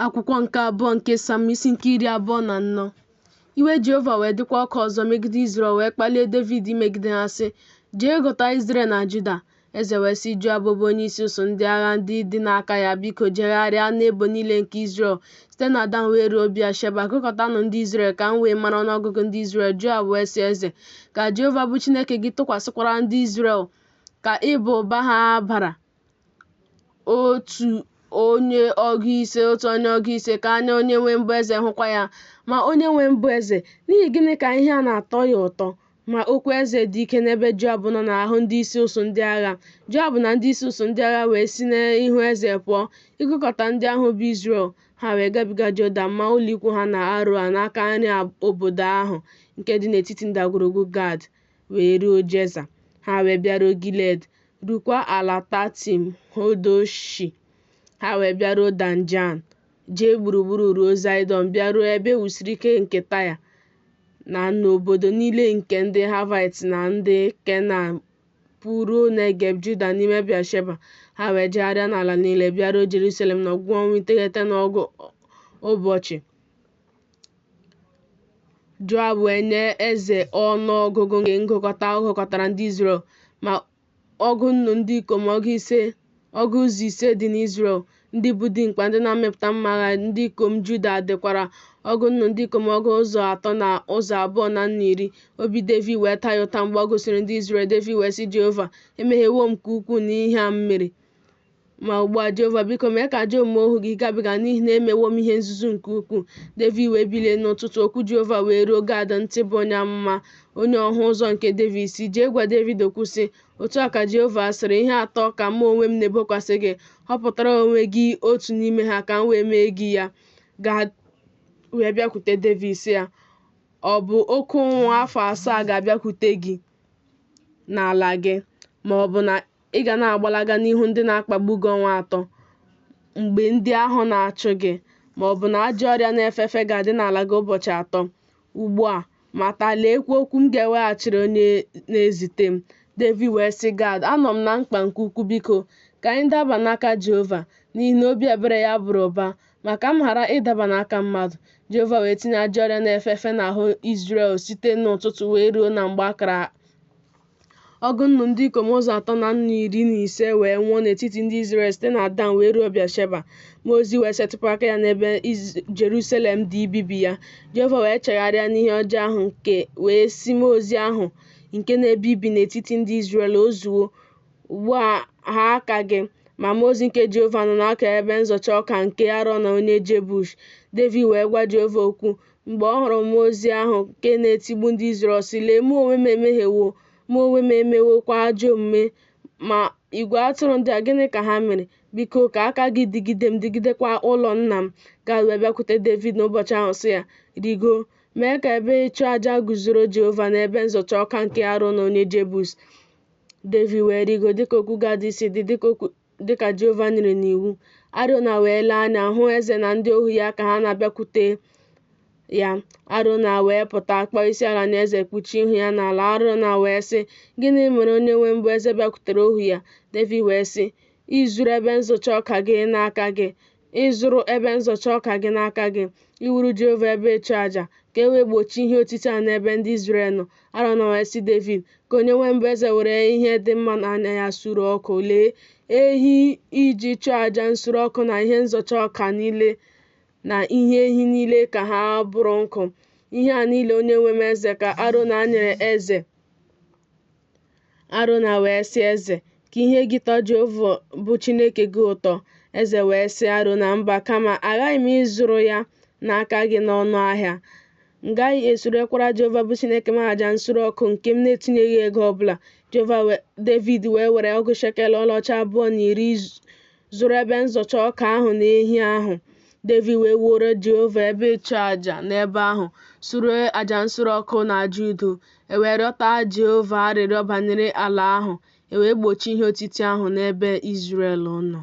Akwụkwọ nke abụọ nke Sam isi nke iri abụọ na anọ iwe Jehova wee dịkwa ọkụ ọzọ megide Izrel wee kpalie Devid imegide ha sị jee gụta Izrel na Juda eze wee sị Joab bụ onyeisi usuu ndị agha ndị dị n'aka ya biko jegharịa n'ebo niile nke Izrel site na Dan wee ruo Bịasheba gụkọtanụ ndị Izrel ka m wee mara ọnụọgụgụ ndị Izrel Joab wee sị eze ka Jehova bụ Chineke gị tụkwasịkwara ndị Izrel ka ịba ụba ha bara otu onye ọgụ ise otu onye ọgụ ise ka anya onye nwe m bụ eze hụkwa ya ma onye nwe m bụ eze n'ihi gịnị ka ihe a na-atọ ya ụtọ ma okwu eze dị ike n'ebe Joab nọ n'ahụ ndị isi usuu ndị agha Joab na ndị isi usuu ndị agha wee si n'ihu eze pụọ ịgụkọta ndị ahụ bụ Izrel ha wee gabiga Jọdan maa ụlọikwu ha na Aroa n'aka nri obodo ahụ nke dị n'etiti ndagwurugwu Gad wee ruo Jeza. Ha wee bịaruo Gilead, rukwa ala Tatim Hodoshi. Ha wee bịaruo Danjan, jee gburugburu ruo Zaịdọn, bịaruo ebe e wusiri ike nke Taya, na n'obodo niile nke ndị Havait na ndị Kenan, pụruo Negeb Juda n'ime Bịasheba. Ha wee jegharịa n'ala niile, bịaruo Jerusalem n'ọgwụgwụ ọnwa iteghete na ọgụ ụbọchị. Joab wee nye eze ọnụọgụgụ nke ngụkọta ọ gụkọtara ndị Izrel, ma ọgụ nnu ndị ikom ọgụ ụzọ ise dị n'Izrel, ndị bụ dimkpa ndị na-amịpụta mma agha, ndị ikom Juda dịkwara ọgụ nnu ndị ikom ọgụ ụzọ atọ na ụzọ abụọ na nnu iri. Obi Devid wee taa ya ụta mgbe ọ gụsịrị ndị Izrel. Devid wee sị Jehova, Emehiewo m nke ukwuu n'ihe a m mere. Ma ugbu a, Jehova, biko mee ka ajọ omume ohu gị gabiga, n'ihi na emewo m ihe nzuzu nke ukwuu. Devid wee bilie n'ụtụtụ, okwu Jehova wee ruo Gad ntị bụ onye amụma, onye ọhụ ụzọ nke Devid, sị, Jee gwa Devid okwu sị, Otu a ka Jehova sịrị, Ihe atọ ka mụ onwe m na-ebokwasị gị, họpụtara onwe gị otu n'ime ha ka m wee mee gị ya. Gad wee bịakwute Devid sị ya, Ọ bụ oke ụnwụ afọ asaa ga-abịakwute gị n'ala gị, ma ọ bụ na Ị ga na-agbalaga n'ihu ndị na-akpagbu gị ọnwa atọ mgbe ndị ahụ na-achụ gị, ma ọ bụ na ajọ ọrịa na-efe efe ga-adị n'ala gị ụbọchị atọ. Ugbu a, mata, leekwa okwu m ga-eweghachiri onye na-ezite m. Devid wee sị Gad, Anọ m na mkpa nke ukwu, biko, ka anyị daba n'aka Jehova, n'ihi na obi ebere ya bara ụba, ma ka m ghara ịdaba n'aka mmadụ. Jehova wee tinye ajọ ọrịa na-efe efe n'ahụ Izrel site n'ụtụtụ wee ruo na mgbe a kara Ọgụ nnu ndị ikom ụzọ atọ na nnu iri na ise wee nwụọ n'etiti ndị Izrel site na Dan wee ruo Bịasheba. Mmụọ ozi wee setịpụ aka ya n'ebe Jerusalem dị ibibi ya. Jehova wee chegharịa n'ihe ọjọọ ahụ wee sị mmụọ ozi ahụ nke na-ebibi n'etiti ndị Izrel o zuo ugbu a ha aka gị ma mmụọ ozi nke Jehova nọ n'aka ebe nzọcha ọka nke Arona onye Jebush. Devid wee gwa Jehova okwu Mgbe ọ hụrụ mmụọ ozi ahụ nke na-etigbu ndị Izrel sị, Lee, mụ onwe m emehiewo, mụ onwe m emewokwa ajọ omume. Ma igwe atụrụ ndị a, gịnị ka ha mere? Biko, ka aka gị dịgide m, dịgidekwa ụlọ nna m. Gad wee bịakwute Devid n'ụbọchị ahụ sị ya, Rigo, mee ka ebe ịchụ aja guzoro Jehova n'ebe nzọcha ọka nke Arona onye Jebus. Devid wee rigo dịka okwu Gad si dị, dịka okwu dị ka Jehova nyere n'iwu. Arona wee lee anya hụ eze na ndị ohu ya ka ha na-abịakwute ya. Arona wee pụta kpọọ isi ala nye eze kpuchie ihu ya n'ala. Arona wee sị, Gịnị mere onye nwe m bụ eze bịakwutere ohu ya? Devid wee sị, Ịzụrụ ebe nzọcha ọka gị n'aka gị, ịzụrụ ebe nzọcha ọka gị n'aka gị iwuru Jehova ebe ịchụ aja ka e wee gbochie ihe otiti a n'ebe ndị Izrel nọ Arona wee sị Devid ka onye nwe m bụ eze were ihe dị mma n'anya ya suru ọkụ lee ehi iji chụọ aja nsure ọkụ na ihe nzọcha ọka niile na ihe ehi niile ka ha bụrụ nkụ ihe a niile onye nwe m eze ka Arona nyere eze Arona wee sị eze, Ka ihe gị tọọ Jehova bụ Chineke gị ụtọ. Eze wee sị Arona, Mba, kama aghaghị m ịzụrụ ya n'aka gị n'ọnụ ahịa. M gaghị esurekwara Jehova bụ Chineke m aja nsure ọkụ nke m na-etinyeghị ego ọ bụla. Jehova Devid wee were ọgụ shekel ọlaọcha abụọ na iri zụrụ ebe nzọcha ọka ahụ na ehi ahụ. Devid wee wuoro Jehova ebe ịchụ aja n'ebe ahụ, sure aja nsure ọkụ na aja udo. E wee rịọta Jehova arịrịọ banyere ala ahụ, e wee gbochie ihe otiti ahụ n'ebe Izrel nọ.